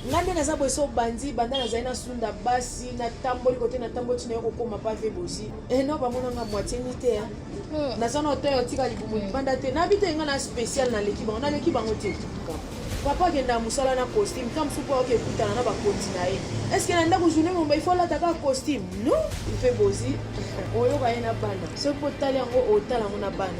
ngai nde naza boye so obandi banda nazali nasunda basi natamboli kote natamboli ntina yo kokoma pave bozi eno eh, bamona nga moitie ni te eh. hmm. naza na hotel otika libumu hmm. libanda te nabi te nga na spécial naleki bango naleki bango te papa akenda ya mosala na costume ntango mosusu mpo aoki ekutana na bakonzi na ye estce na ndako journée momba ifo alata kaka costume no mpe bozi oyoka ye na bana soki mpo otali yango otala yango na bana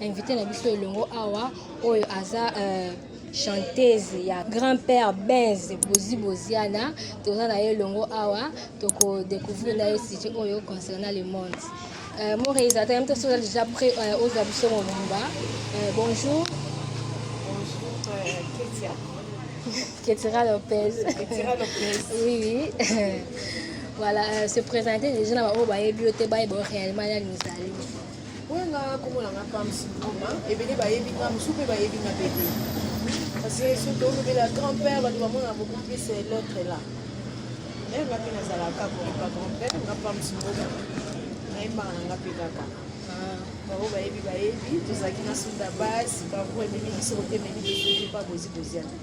Invité na biso elongo awa oyo aza euh, chanteuse ya grand père benz bozi boziana toza na ye elongo awa tokodécouvrir na ye site oyo concernant le monde euh, mon réalisateur yam tosoza déjà près euh, ozwa biso mobimba euh, bonjour bonjour euh, ketia ketira lopez ketira lopez oui oui voilà euh, se présenter déjà na baoyo bayebi yo te bayeba réellement nani ozali Oyo nga kombo na nga Pams Ngoma, ebele bayebi nga mosusu mpe bayebi nga mpe te. Parce que soki tolobela grand-père bato bamona beaucoup plus eh, l'autre là. Eh, nga mpe nazalaka koyeba grand-père nga Pams Ngoma. Nayembaka na nga mpe kaka. Bango bayebi bayebi, tozalaki na sunda base, bango ememi biso kotememi biso mpe babozi boziana.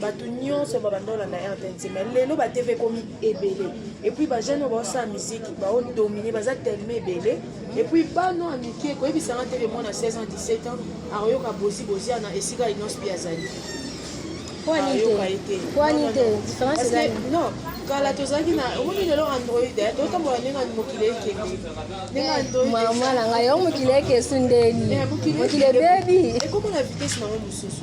bato nyonso babanda olanda rtnc mai lelo ba tv ekomi ebele epuis bajeune oyo baosala miziki baodomine baza teleme ebele epuis bano ya mike koyebisanga tv mwana 16 ans 17 ans akoyoka bozi boziana esika inospi azali ayoka ye te non kala tozalaki na omoni lelo android eh, totambola ndenge mokili ekende ndenge androidmama na ngai yango mokili ekesu ndeni eh, mokili ebebi ekoma na vitese nango mosusu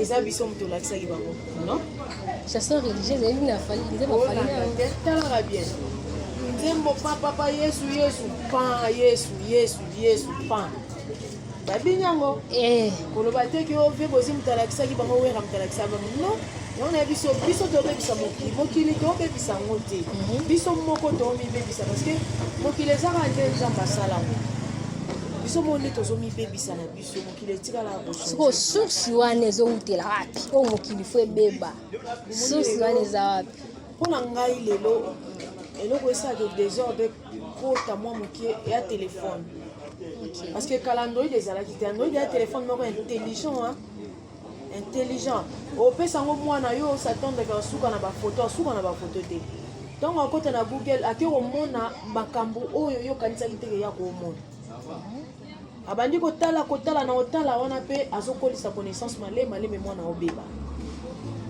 eza biso moto olakisaki bango non chanson religieuse eyebi na fali nzembo fali talaka bien nzembo pa papa yesu yesu pa yesu yesu yesu pa babini yango eh. koloba te ki ove bozi moto alakisaki bango wera moto alakisa bango non yango na biso biso tobebisa mokili mokili tobebisa yango te mhm. biso moko tomibebisa parce que mokili ezaka nde nzambe asala yango biso moko nde tozomibebisa na biso sikoyo source wana ezowutela wapi oyo mokili fo ebeba source wana eza wapi mpo na ngai lelo eloko esalaka desordre ekota mwa moke ya telefone parce que kala android ezalaki te android ya telefone moko intelligent hein? intelligent opesa yango mwana yo osatandaka asuka na bafoto asuka na bafoto te ntango akota na google ake komona makambo oyo yo okanisaki te keya komona abandi kotala kotala na otala wana mpe azokolisa connaissance malema maleme mwana obeba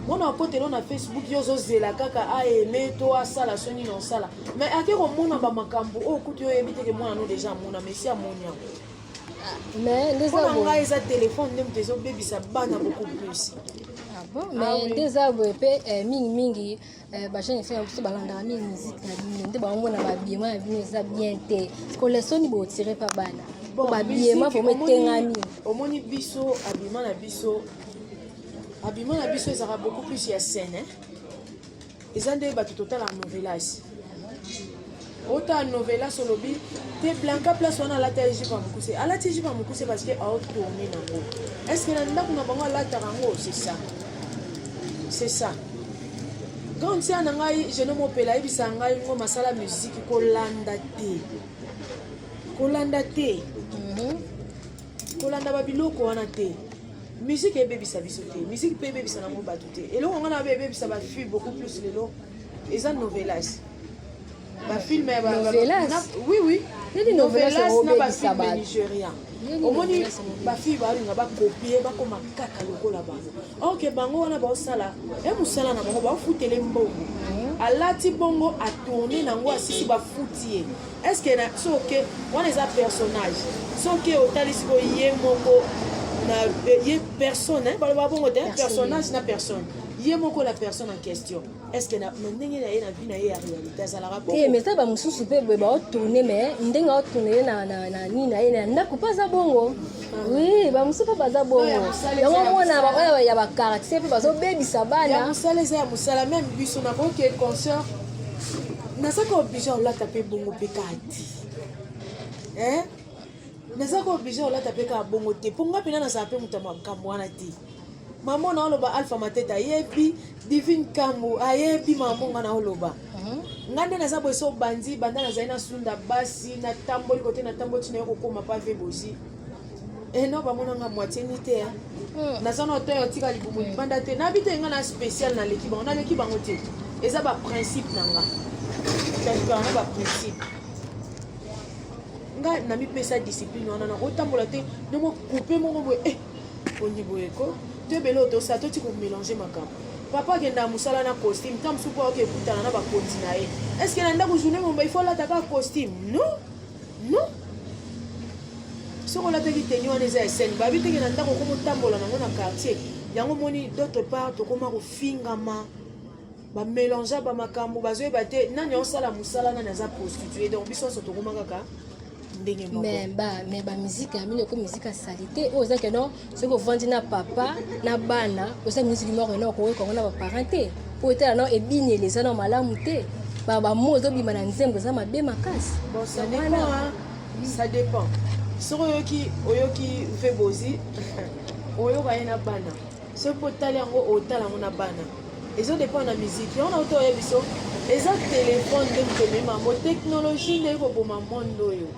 mwana akotelo na facebook yo ozozela kaka aeme to asala so nini osala mai ake komona bamakambo oyo kutu yo oyebi teke mwana no deja amona mesi amoni yango mpona ah, ngai eza telefone nde moto ezobebisa bana beaucoup plus ah ah nde eza boye mpe eh, mingimingi Eh, bajeune efe na biso balandaka mingi miziki na bino nde bamona babiema na bino eza bien te kolesoni botire mpa bana po babiema vraimen etengami omoni biso abima na biso abima na biso ezalaka beaucoup plus ya scène eza nde bato totala novelas ota novelas olobi te blanca place wana alata ye jipe ya mokuse alati ye jipe ya mokuse parce que aotourne nango est ce que na ndako na bango alataka yango c'est ça c'est ça grande sœur na ngai jeno mopela ayebisa ngai ngo masala musiki kolanda te kolanda te mhm. kolanda babiloko wana te musike ebebisa biso te musike mpe ebebisa nango bato te eloko ngai na babe ebebisa bafi beaucoup plus lelo eza novelas ba film ya ba novelas oui oui nini novelas na ba film ya Nigeria omoni ba fille ba linga ba copier ba koma kaka lokola bango or que bango wana ba osala e musala na bango ba ofutele mbongo alati bongo atourne nango asisi bafuti ye estce na soke wana eza personnage soki otali siko ye moko na ye personne baloba bongo te personnage na personne ye moko la personne en question eske na ndenge na ye na vie na ye ya réalité azalaka bongo eh, mais eza bamosusu mpe boye baotourne mais ndenge aotourne ye na nini na ye na ndako mpe aza bongo ah. oui bamosusu mpe baza bongo yango omona baoyo ya bacaractère mpe bazobebisa bana mosala eza ya mosala meme biso na boke concert nazaka oblige olata mpe bongo mpe kati naza ko oblige olata mpe kaka bongo te mpo ngai mpena nazala mpe moto ya makambo wana te Maman na oloba Alpha Mateta ayebi, Divine Kambu ayebi maman nga na oloba. Mhm. Nga nde naza boye so bandi banda nazali na sunda basi na tamboli kote na tamboli tina yo kokoma pave bozi. Eh non bamona nga moitié ni te hein. Hmm. Naza na oteyo tika libumu hmm. libanda te. Na bito nga na spécial na leki bango, na leki bango te. Eza ba principe na nga. Kasi ba ba principe. nga namipesa discipline wana nakotambola te nde mokoupe moko boye eh, Ondi boye ko to ebele oyo tosala toti komelange makambo papa akendaka mosala na costume ntango mosusu mpo aoke ekutana na bakonzi na ye estce na ndako journée momba ifo alata kaka costume non non soki olataki teni wana eza esene babi teke na ndako okoma otambola nango na quartier yango omoni d'autre part tokoma kofingama bamelangea bamakambo bazoyeba te nani aosala mosala nani aza prostitue donc biso nyonso tokoma kaka ndenge moko mais ba mais ba musique ya mino ko musique salite oyo oh, za que non ce ko vandi na papa na bana oza musique moko non ko ko na ba parents te po etala non ebini eleza na malamu te ba ba mo zo bima na nzembo za mabe makasi bon ça dépend hein ça dépend soki oyoki oyoki mpe bozi oyoka ye na bana soki mpo otali yango otala yango na bana ezo dépend na miziki yango nauta oyebi so eza telefone nde moto emema yango teknologie nde ekoboma monde oyo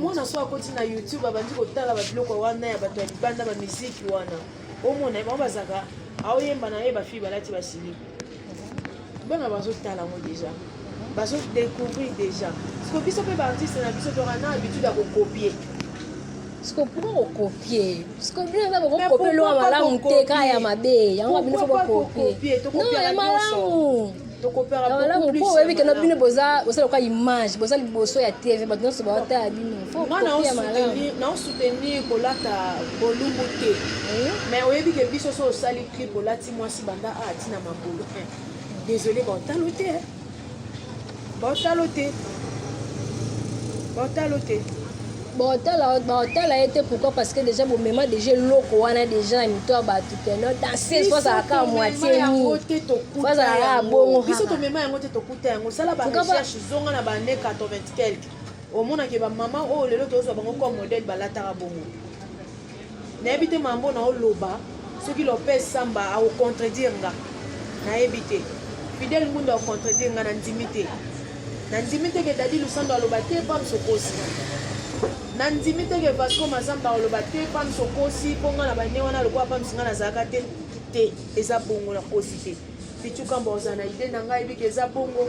mwana so akoti na youtube abandi kotala babiloko wana ya bato ya libanda bamiziki wana omona bango bazaka aoyemba na ye bafille balati basilipi bana bazotala yango deja bazodecouvrir deja siko biso mpe baartiste na biso toka na habitude ya kokopie siko pourquoi kokopie siko bino eza bokokopie loa malamu te kaka ya mabe yango bino fo bokopie no ya malamu malamu mpo oyebi kena bino boza bosala lokola image boza liboso ya tv bato nyonso baotala bino naosoutenir kolata bolumbu te mais oyebi ke biso so osali clip olati mwasi banda a ti na mabulu désolé baotalo te baotalo te baotalo te baotala ye te pourquoi parce que déjà bomema déjà eloko wana déjà na mito ya bato keno danseuse fozalaka ya moitie nifozalaka ya bongo biso tomema yango te tokuta yango sala barecherche zonga na bane 80 quelque omonake bamama oyo lelo tozwa bango comme modèle balataka bongo Nayebi te mambo na oloba soki Lopez Samba a contredire nga. Nayebi te. Fidel Ngundu a contredire nga na ndimi te. Na ndimi te ke Dadi Lusando aloba te pam sokosi. Na ndimi te ke Vasco Mazamba aloba te pam sokosi po nga na bane wana lokola pam singa nazalaka te te eza bongo na kosi te. Pichu Kamba ozana ide na nga yebi ke eza bongo.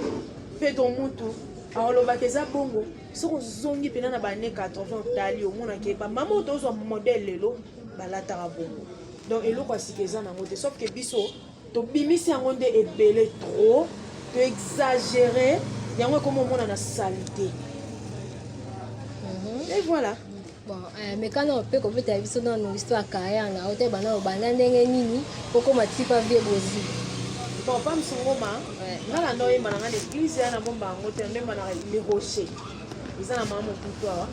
Pedro Mutu aoloba ke eza bongo. soki ozongi mpena na bane 80 otali omonake bamama oyo tozwa modele lelo balataka bongo donc eloko ya sika eza nango te sauf ke biso tobimisi yango nde ebele trop to exagere yango ekomi omona na salite mhm. et voilà Bon, eh, mekano mpe kobetela biso nano histoire ya carrière na yo te bana obanda ndenge nini okoma tipa vie bozi bon pa msongoma nga na ndoye mana nga l'église ya na bomba yango te ndoye mana le rocher eza na mama mokutu awa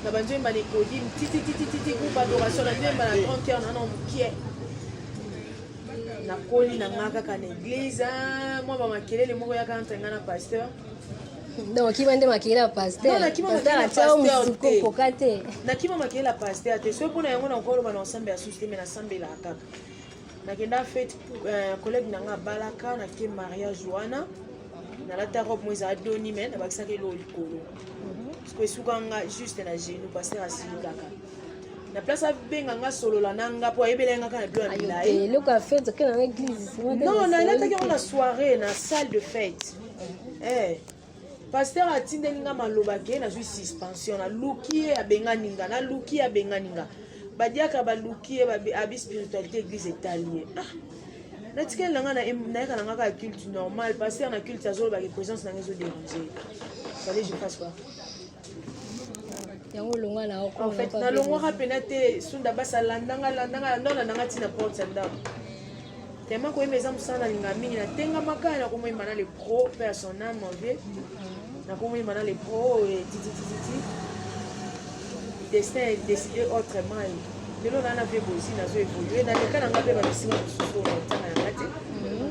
na banzo yemba na ecodim titititititi groupe adoration na ndoye yemba na 30 heure na na mokie nakoli na nga kaka na église mwa bamakelele moko yaka entre nga na pasteur donc kima nde makeyela pasterpasteur te nakima makeyela paster te soki mpona yango nakoloba na osambe ya susu te me nasambelaka kaka nakenda fete euh, collègue na nga abalaka nake mariage wana nalata robe mo ezala doni me nabakisaka eloo likolo siko esuka nga juste na genu paster asilikaka na place abenga nga solola na nga mpo ayebela nga kaka na bilo ya milayi non nalataki yango na soirée na salle de fête eh pasteur atindeli nga maloba ke nazwi suspension naluki ye abengani nga naluki ye abengani nga badiaka baluki ye abi spiritualité église etali ye ah natikali na nga nayaka na nga kaka culte normal pasteur na culte azolobaki présence na nga ezoderange fallait je fasse quoi yango olonga na oko en fait nalongwaka mpena te sunda basi alandanga alandanga landa olandanga ntina porte ya ndako tema koyemba eza mosala nalinga mingi natengamaka ya nakomoyemba na lepro mpe ya son ame envie nakomoyemba na lepro oyo tititititi destin décidé autrement lelo naa na vie bozi nazo évolue naleka na nga mpe bamisima mosusu oyo na ntanga ya nga te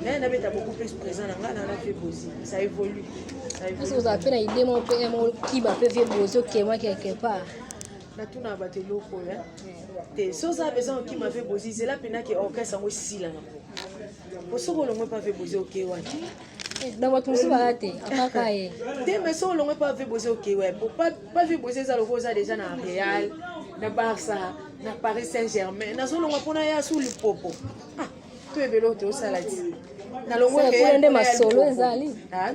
mais nabeta beaucoup plus présent na nga naa na vie bozi ça évolue Parce que vous avez la idée, mon père, mon qui m'a fait vivre aux autres, qui est moi quelque part. natuna bato eloko oyo te so oza besoin okima ve bozi zela mpena ke orchestre yango esila na po soki olongwe mpa ve bozi oke wati na bato mosusu baya te apaka ye te mais so olongwe mpa ve bozi oke wa po pa ve bozi eza loko oza deja na real na barça na paris saint germain nazolongwa mpona ya su lipopo ah. to ebele oyo tosala ti nalongwekuna nde masolo ezali ah,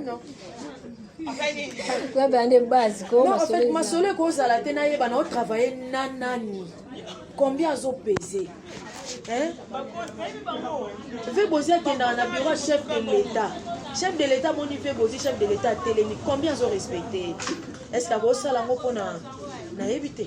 koyebela nde base masolo ekozala te nayeba na otravaille na nani combien azopese ve bozi akendaka na bureau chef de l'état chef de l'état moni ve bozi chef de l'état atelemi combien azorespecte est ce que akosala yango mpona nayebi te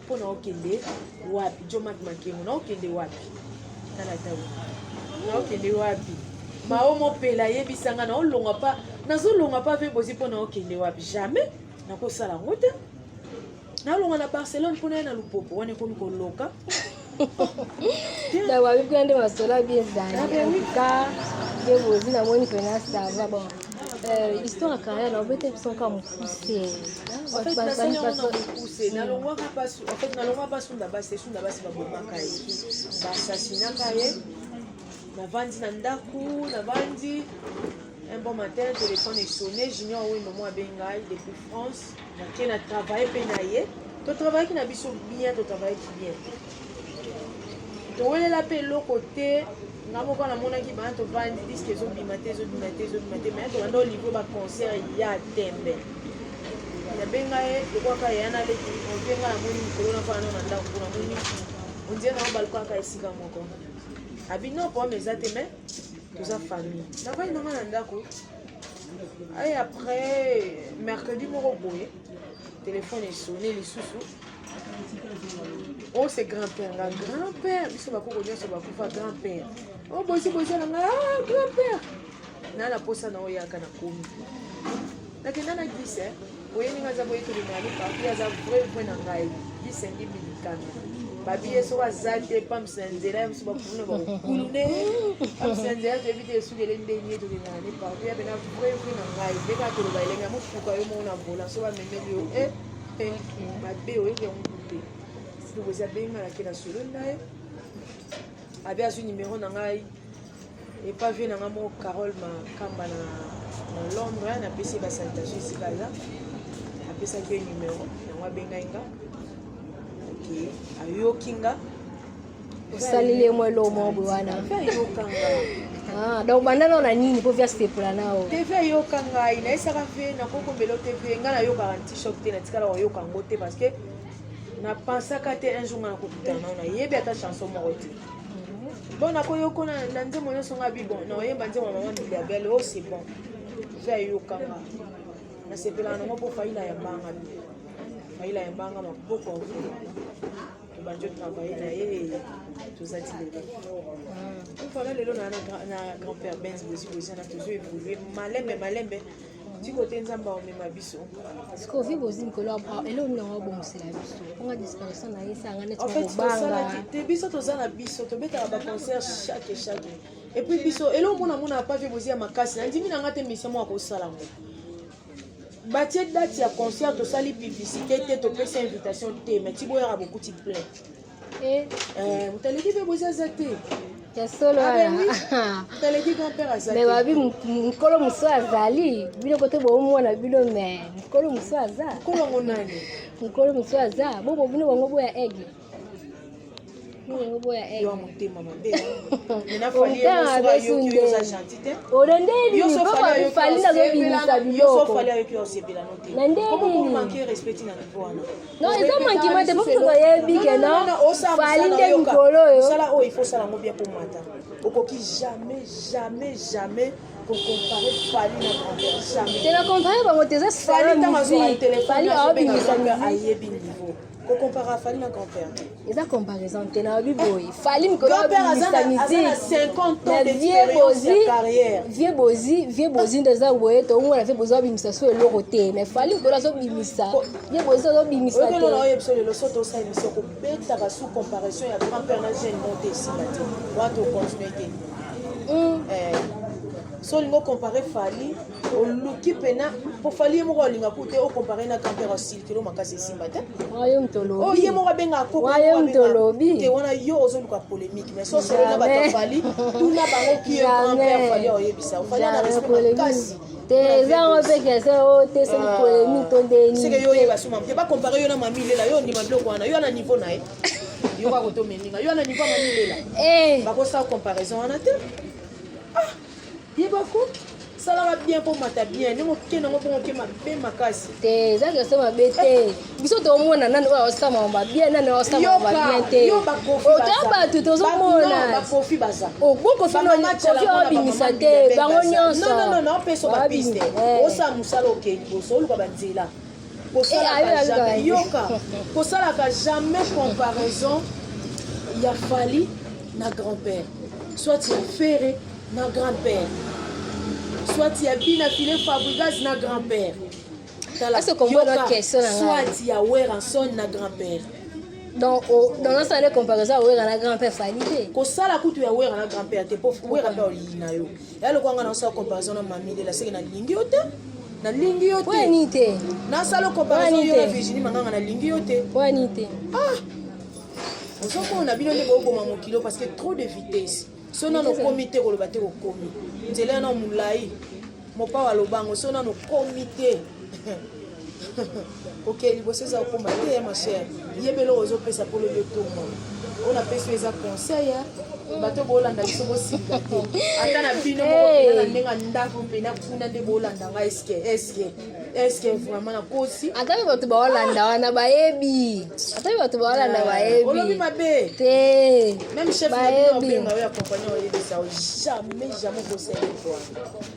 mpo na okende wapi jomak makengo na okende wapi tala tau na okende wapi mao mopela yebisanga na olonga pa nazolonga pa mpe bozi mpo na okende wapi jamais nakosala yango te nalonga na barcelone mpo na ye na lupopo wana ekomi koloka ntango abi kuna nde masolo abi ezali ka nde bozi namoni mpena sava bon euh, histoire ya carrière na obete biso nka mokuse nalongwaka mpasi sunda basi te sunda basi babomaka ye basasinaka ye navandi na ndako navandi Un bon matin, téléphone est sonné. Junior Wendo moi Bengai depuis France. Qui a travaillé penaye. To travaille qui na biso bien, to travaille qui bien. To wele la pe lo côté nga moko na mona ki ba to vandi disque ezo bima te ezo bima te ezo bima te mais to ndo libre ba concert ya tembe. Ya Bengai ko kwa ka yana le ki on benga na moni ko na fa na ndako kuna moni. On dirait na balko ka esika moko. Abi non problème eza te mais toza famille navandi nanga na ndako ay après mercredi moko boye telefone esone lisusu oh c'est grand père nga grand père biso bakoko nyonso bakufa grand père o oh, bosi bosi na nga ah, grand père na na posa na oyaka na komi nakenda na gise eh. boye ndenge aza boyekeli na ye papi aza vrai vrai na ngai bisengi bilikana babi ye soki aza te pamsi na nzela ya mosu bakulu na bakulu ne pamsi na nzela toyebi te esukele ndenge tokendaka ne partout ya pena vrai vrai na ngai mpe kaka toloba elenge ya mofuka yo moko na vola so bamemeli yo e eh, eh, mabe oyebi yango te sikokozi abengi ngai nake na solo na ye abi azwi nimero na ngai epa vie na nga moko carole makamba na londre napesi ye basalutation esika aza apesaki ye numero yango abengai nga oke ayoki nga osaleli ye mwa eloko moko boye wana ayoka nga Ah, donc banda nao na nini mpo vias tepola nao tv ayoka ngai nayesaka mpe nakokombela tv ngai nayokaka ntishok te natikala koyoka yango te parce que napensaka te un jour ngai nakokutana nao nayebi ata chanson moko te bona koyoko na nzembo nyonso nga bi bon na oyemba nzembo ya mama bilia bele o oh, c'est bon eza eyokanga nasepelaka nango mpo faila ya mbanga bi faila ya mbanga maboko akolo tobandi otravaille na ye tozati lelo mfana lelo na grand père benz bosi bozana tozo évolue malembe malembe tiko te nzambe aomema biso sikoyo vi bozi likolo ya bras eloko nini yango abongisela biso anga disparition na ye esanga neti kobanga te biso toza na biso tobetaka baconcert chaque chaque epuis biso eloko mona mona pa vi bozi ya makasi nandimi na nga te mission moko akosala yango batie date ya concert tosali publicité te topesi invitation te mais tiboyaka bokuti plein Eh. Eh, mutaleki mpe bozi aza te ya solo me babi mokolo mosusu azali bino kote boomona bino me mokolo mosusu aza mokolo mosusu aza bobo bino bango boya aigle oyo nde nini papa fali nazobimisa biloko na nde nini Non, eza mankima te bofuta oyebi ke non fali nde mikolo oyo sala oyo il faut sala ngo bien komata okoki jamais jamais jamais kocompare fali na grandeur jamais te na compare bango te eza sala musique fali aobimisa musique ayebi niveau kocompare fali na grandeur eza comparaison te nalobi boye fali mikolo vie bozi vie bozi nde eza boye toomona vie bozi abimisa so eloko te mais fali mikolo azobimisa vie bozi azobimisa te solingo compare fali oluki pena po fali ye moko alinga ku te ocompare na grand père silikelo makasi esimba te oye oh, moko abengaka kokote wana yo ozoluka polémique mais sosolo na bato afali tuna bango ki ye grand père fali oyebisa ofali na respect makasi te eza yango mpe kese oyo te soki polemi to ndeni seke yo oyeba suma mpe bakompare yo na mami lela yo ondima biloko wana yo ana niveau na ye yoka kotomeninga yo ana niveau ya mami lela bakosala comparaison wana te Yebako salaka bien mpo mata bien ndenge okende yango bongo oke mabe makasi te eza keso mabe te biso tomona nani oyo aosamama babien nani aosamama babien te otoya bato tozomona bakofi baza obokofi kofi obimisa te bango nyonso opeso bapiste osala mosala okei liboso oluka banzela kosalaka jamais yoka kosalaka jamais comparaison ya fali na grand père soit ya fere na grand père soit ya bina file fabrigas na grand père soit ya weranson na grand père donc nasala nde comparaison ya wera na grand père fali te kosala kutu ya wera na grand père te po wera mpe olii na yo ya lokola nga nasala comparaison na mami lela seke nalingi yo te nalingi yo te wani te nasala comparaison yo na virginie manganga nalingi yo te wani te ah ozokomona bino nde booboma mokilo parce que trop de vitesse so nano okomi te koloba te okomi nzela yana molai mopawa lobango so nano okomi te ok liboso eza kokoma te ya masher yeba eloko ozopesa mpo lobi otongo oyo napesi eza conseil ya bato bolanda biso bosika te ata na bino moko na ndenge ya ndako mpena kuna nde bolanda ngai eske eske eske vraiment nakosi ata mpe bato baolanda wana bayebi ata mpe bato baolanda eh, bayebi olobi mabe te meme chef nabenga oyo ya compagnie oyebisa jamais jamais kosele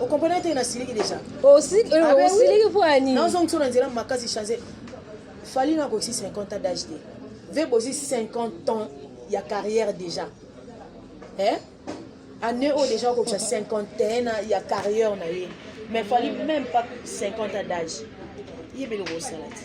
okomprena te nasiliki deja osiliki ah, ah, mpo ya nini nazongi so na nzela makasi change fali na akoki 50 ans d'age te ve bozwi 50 ans ya carrière déjà eh? année oyo déjà okokisa 51 ya carrière na ye mais fali même pas 50 ans d'age yebeli okosala te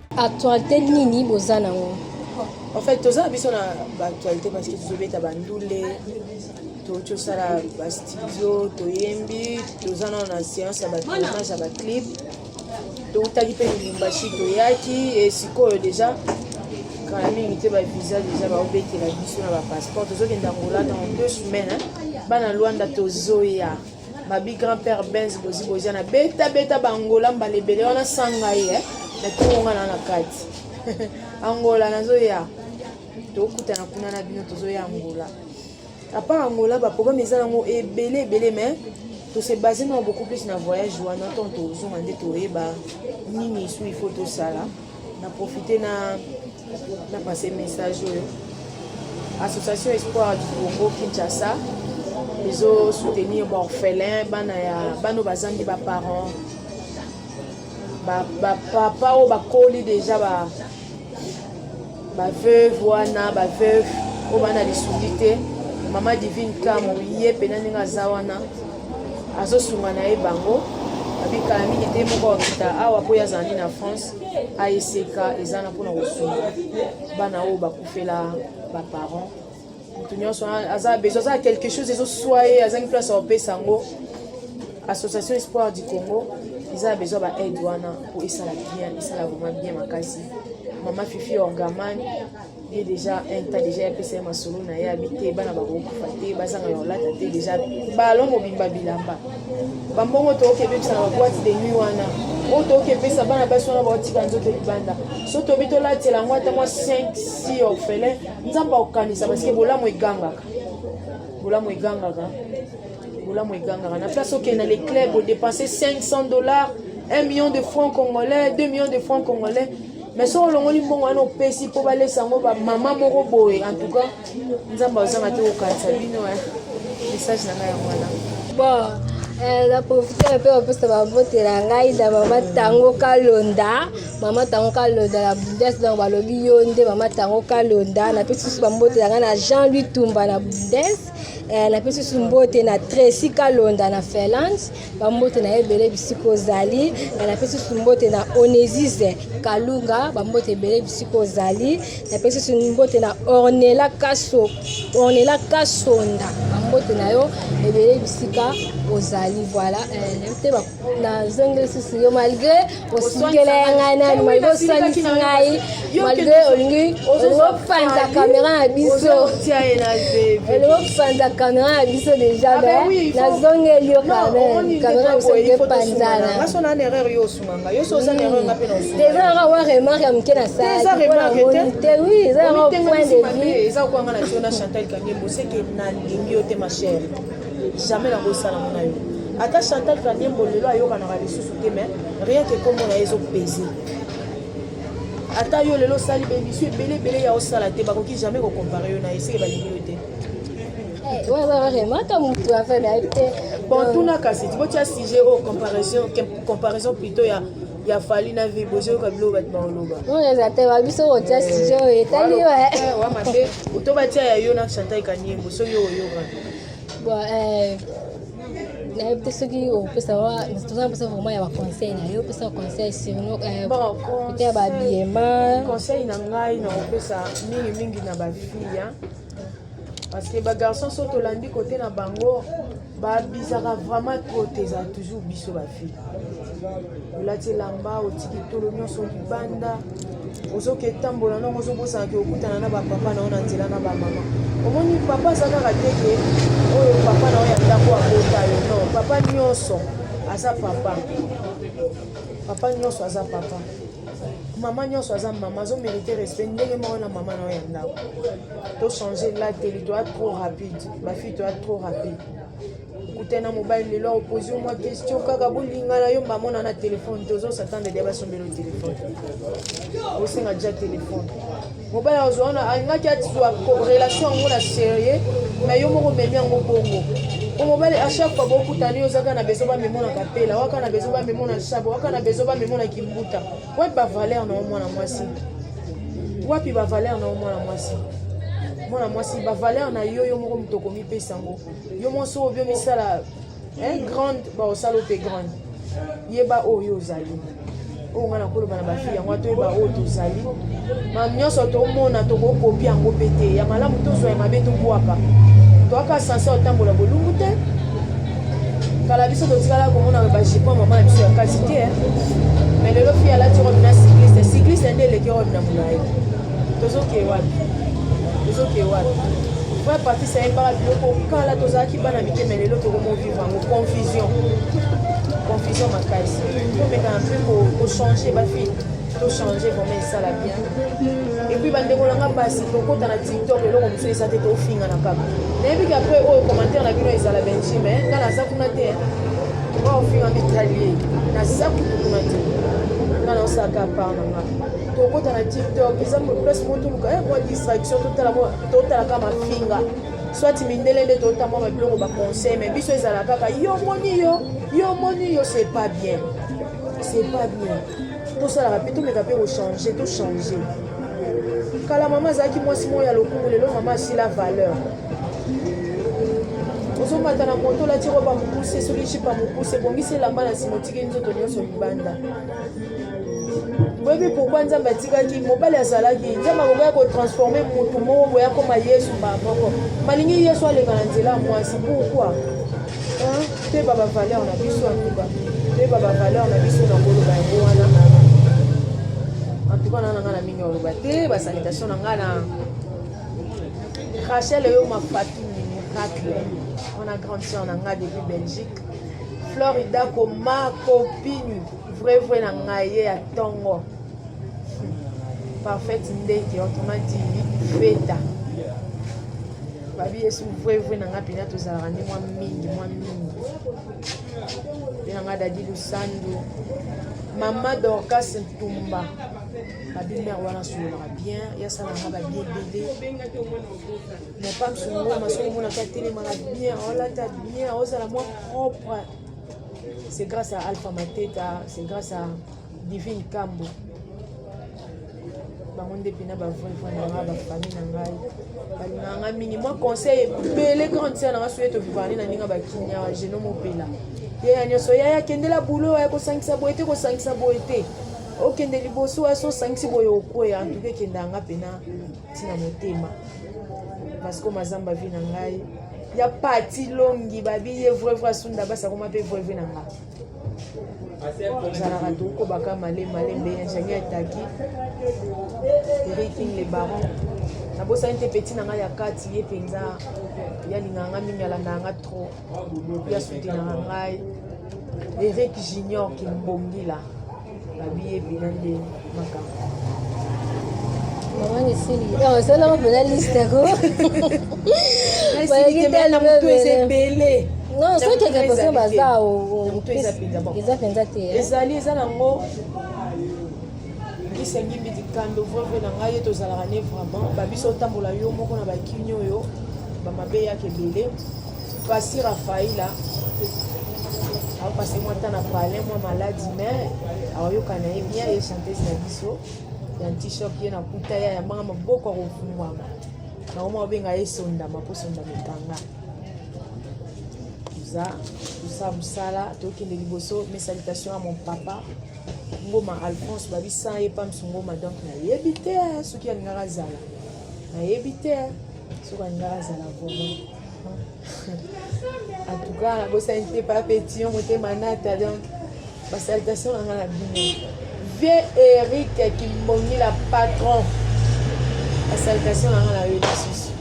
Actualité nini boza nango? En fait, toza biso na ba actualité parce que tozobeta ba ndule, tosala ba studio, toyembi, toza na na séance ya ba tournage ya ba clip. Toutaki mpe Lubumbashi toyaki e sikoyo deja kala mingi te ba visa deja baobetela biso na ba passeport tozokenda Angola dans deux semaines bana Luanda tozoya Babi grand père Benz bozi bozi na beta beta bangola mbala ebele wana sanga ye eh? na tonga na na kati angola nazoya tokutana kuna na bino tozoya angola apart angola baprogramme eza yango ebele ebele mais tose base na beaucoup plus na voyage wana ntango tozonga nde toyeba nini esu il faut tosala na profite na na passe message oyo association espoir du congo kinshasa ezo soutenir baorphelin bana ya bana oyo bazangi baparent bapapa oyo bakoli deja ba, ba ba veuve wana ba veuve oyo bana lisungi te mama divine kamo ye mpena ndenge aza wana azosunga na ye bango abikala mingi te moko akita awa mpo ye azalaki na france aeseka eza na mpona kosunga bana oyo bakufela baparent moto nyonso aza besoin aza quelque chose ezoswa ye azangi place ya kopesa yango association espoir du congo eza na besoin ba aide wana mpo esala bien esala vraiment bien makasi mama fifi orgaman ye deja un temps deja yapesa ye masolo na ye abi te bana bakokufa te bazanga ya olata te deja balo mobimba bilamba bambongo tokoki ebebisa na baboite de nuit wana oyo tokoki epesa bana basi wana baotika nzoto libanda so tobi tolatela yango ata mwa 5 si orphelin nzambe akokanisa parceke bolamu egangaka bolamu egangaka bolamu egangaka na place okende na le club odepense 500 dollars 1 million de francs congolais 2 millions de francs congolais mais soki olongoli mbongo wana opesi mpo balesa yango bamama moko boye en tout cas nzambe azanga te kokanisa bino eh. message na ngai yango wana bon eh, na profite mpe kopesa babote na ngai na mama tango kalonda mama tango kalonda na bundes donc balobi yo nde mama tango kalonda na pesi susu bambote yanga na jean louis tumba na bundes eh, na pesi susu mbote na tracy kalonda na finlande bambote na ye ebele bisika ozali eh, na pesi susu mbote na onesise kalunga bambote ebele bisika ozali na pesi susu mbote na ornela kaso ornela kasonda bambote na yo ebele bisika ozali voilà eh, nazongi lisusu yo malgre osukela ya ngai nani malgre oswanisi ngai malgre olingi olingi opanza kamera na biso olingi opanza kamera na biso deja ah, me nazongeli yo kameme kamera na biso olingi epanzana eza yaka wa remarke ya moke na salaki mpo namoni te wi eza yaka point de vue jamais nakosala mona yo ata chantal kanyembo lelo ayokanaka lisusu te mais rien ke kombo na ye ezopese ata yo lelo osali bemission ebele ebele ya osala te bakoki jamais kokompare yo na ye seke balingi yo te eh, bon tuna kasi tibotya sujet oyo comparaison comparaison plutôt ya ya fali na vie bozoyoka biloko bato baoloba oyo eza te babiso kotya eh, sujet oyo etali yo eh. mabe oto batya ya yo na chantal kaniembo soki oyoka Bon, eh, nayebi te soki opesa toza mposa vraiment ya baconseil na yo opesa conseil surnote eh, ya babiema conseil na ngai na kopesa mingimingi na bafille parce que bagarçon so tolandi kote na bango babisaka vraiment trop te eza toujours biso bafille olati elamba otiki tolo nyonso libanda ozoke tambola nongo ozobosana ke okutana na bapapa na yo na nzela na bamama omoni papa aza kaka te ke oyo papa na yo ya ndako akota yo non papa nyonso aza papa papa nyonso aza papa mama nyonso aza mama azomerite respect ndenge moko na mama na yo ya ndako tochange lateli toya trop rapide bafille toya trop rapide okutani na mobali lelo akopozi yo mwa question kaka bolingana yo mbamona na telefone te ozo satanda dia basombela yo telefone osenga dia telefone mobali akozwa wana alingaki azwa relation yango na serieux mai yo moko omemi yango bongo po mobali a chaque fois bokutani ozaka na bezo bamemona kapela waka na bezo bamemona shabo waka na bezo bamemona kimbuta wapi bavaler na yo mwana mwasi wapi bavaler na yo mwana mwasi mwana mwasi bavaler na yo yo moko moto okomipesa yango yo mwasi oyo biomisala eh, grande baosala ope grande yeba oyo ozali oyo ngai nakoloba na bafi yango atoyeba oyo tozali ma nyonso tomona tokokopi yango mpe te ya malamu tozwa ya mabe tobwaka toyaka sanse otambola bolungu te kala biso totikala komona bajipo mama na biso ya kasi te eh. mais lelo fi alati robe na cycliste cycliste nde eleki robe na molai tozokee wapi tozokee wapi vrai patise ayembaka biloko kala tozalaki bana mitema lelo tokomovivre yango confusion confusion makasi tomekana mpe kochange bafille tochange vraiment esala bien epuis bandeko na nga basi tokota na tiktok eloko mosusu eza te tofinga na kaka nayebi ke apres oyo commentaire na bino ezala benji me nga naza kuna te ofinga mitali naza kutu kuna te nga naosaka par na nga tokota na tiktok eza place mo toluka eh, mwa distraction totalaka mafinga soit mindele nde tota mwa mabiloko baconseil mais biso ezala kaka yo omoni yo yo omoni yo c'est pas bien c'est pas bien tosalaka mpe tomeka mpe kochange tochange kala mama azalaki mwasi moko ya lokumu lelo mama asila valeur ozomata na moto olati roba mokuse soki jipa mokuse ebongisi elamba na nsima otiki nzoto nyonso libanda boyebi pourkui nzambe atikaki mobali azalaki nzambe akokaki kotransforme motu moko boye akoma yesu mbala moko malingi yesu aleka na nzela ya mwasi pourkui toyeba bavaleur na biso antuka toyeba bavaleur na biso na koloba yango wana antuka na nanga na mingi oloba te basalitation na ngai na rachel eyo mafatu miracle wana grande sœur na ngai depuis belgique Florida koma copine vrai vrai na ngai ye ya tongo parfaite ndeke autrement dit feta babi yesu vrai vrai na ngai mpenza tozalaka nde mwa mingi mwa mingi mpe na ngai dadi lusandu mama dorcas ntumba babi mare wana asololaka bien yasala na ngai babi ebele Mopam songo masongo mona ka telema na bien olata bien ozala mwa propre c'est grâce à Alpha Mateta c'est grâce à Divine Kambo bango nde mpena bavrai vrai na ngai bafamille na ngai balingaka ngai mingi mwa conseil ebele grande sere na ngai soki tobivane na ndenge bakinya geno mopela yaya nyonso yaya akendela bulo aya kosangisa boye te kosangisa boye te okende liboso aya sosangisi boye okweya antuka ekendaka nga mpena tina motema vasco mazamba vi na ngai ya pati longi babiye vrai vrai asunda basi akoma mpe vrai vrai na ngai ozalaka tokobaka male male mbe ingénieur ataki eriking le baron nabosani te peti na ngai ya kati ye mpenza yalingaka ngai mingi alandaka ngai trop yasutenaka ngai eric junior kimbongila babiye bina nde makambo mama nisili osalaka eh, mpena liste ko balaki ebele non soki ekekose baza eza mpenza te eh. ezali eza nango esengi mbidi kando vrevre na ngai ye tozalaka ne vraiment babiso otambola yo moko na bakini oyo bamabe yaka ebele Pasi Rafaela apase mwa ntan na pale mwa maladi me aoyoka na ye bien ye chantese na biso ya ntishop ye nakuta ye ayambanga maboko ya kofungwama naoma obenga ye sondama mpo sondama ekanga toza tosa mosala tokende liboso mes salutations ya mon papa ngoma alphonse babisa ye pamsu ngoma donc nayebi te soki alingaka azala nayebi te soki alingaka azala vomo en tout cas nabosani te pa petit yo motema nata donc basalutation na nga na bino vie eric kimbongi la patron basalutation na nga na yo lisusu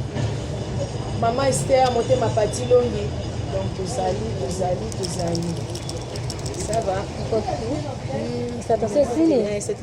mama ester motema pati longi donc tozali tozali tozali ça va mm, ça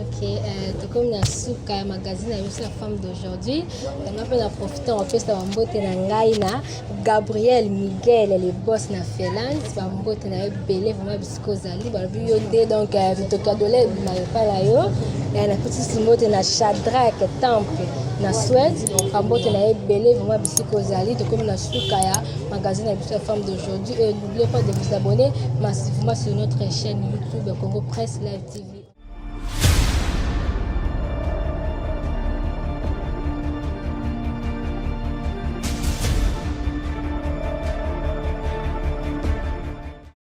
Ok, euh, tokomi na suka ya magazine ya biso ya femme d'aujourd'hui yanga mpe na profite opesa bambote na ngai na gabriel miguel le boss na finlande bambote na yo ebele vraimen kozali balobi yo nde donc euh, mitoki ya dole ebima epai na yo euh, nakutisi mbote na shadrak temple na swede bambote na ye ebele vraimen bisika ozali tokomi na suka ya magazine na biso ya femme d'aujourd'hui et n'oubliez pas de vous abonner massivement sur notre chaîne youtube congo presse live tv